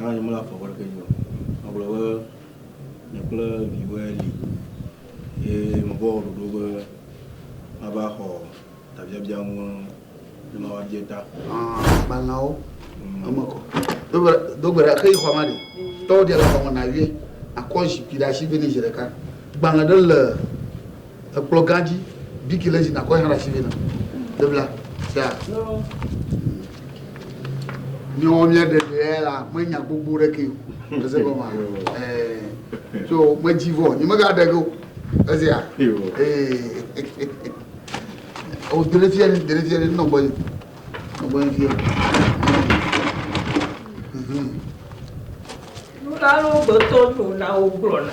Hã nye mele afɔ bɔɖe ke nyo. Agblɔ be nye kple viwɔe li ye mevɔ wɔ ɖoɖo be mava xɔ tabiabia ŋu ne mawa bie ta. Agbalẽawo eme kɔ. Do gbe ɖa xe yi xɔa ma ɖi. Tɔwo ɖia le xɔa me na vie. Akɔ zikpui ɖe asi vɛ ne zi ɖeka. Gbalẽ ɖe le Ekplɔ gã dzi biki le zi na kɔ hã ɖe asi vɛ na Biblia sia. Míawo mía ɖe ɖe la me nya gbogbo ɖe ke o. Ese gɔma. Eh. So me dzi vɔ, ni me ga ɖe go. Ese ya. Eh. O dele fia ni, dele fia ni no boy. No boy fia. Mhm. Nuna lo gbetɔ nuna o gblɔ na.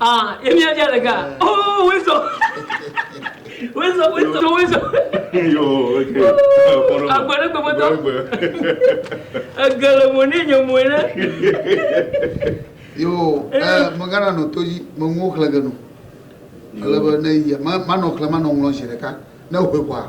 Ah, Emia dia le ga. Oh, Wezo. Wezo, Wezo, Wezo. Yo, ok. Agbe ɖe gbegbe tɔ. Ege le mo ne nye mo ne. Yo, eh, megana no to yi, mengo xlege no. Ale be ne yi, ma no xle, ma no ŋlɔ zi ɖeka. Ne ho kwa.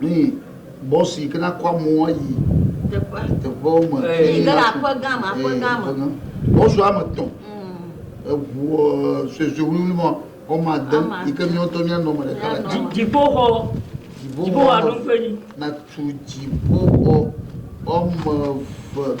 Nyi bɔs yi ke na kɔ amewo ayi teƒe teƒewo me. Yi ke le aƒe gã me, aƒe gã me. Bɔs wo ame etɔ̃. Eŋu suesue wuliwuli ma wo ame ade yi ke mía ŋutɔ mía nɔ ame ɖeka le eme. Dziƒoxɔ, dziƒoxɔ alo ƒe nyi. Na tu dziƒoxɔ wo ame eve.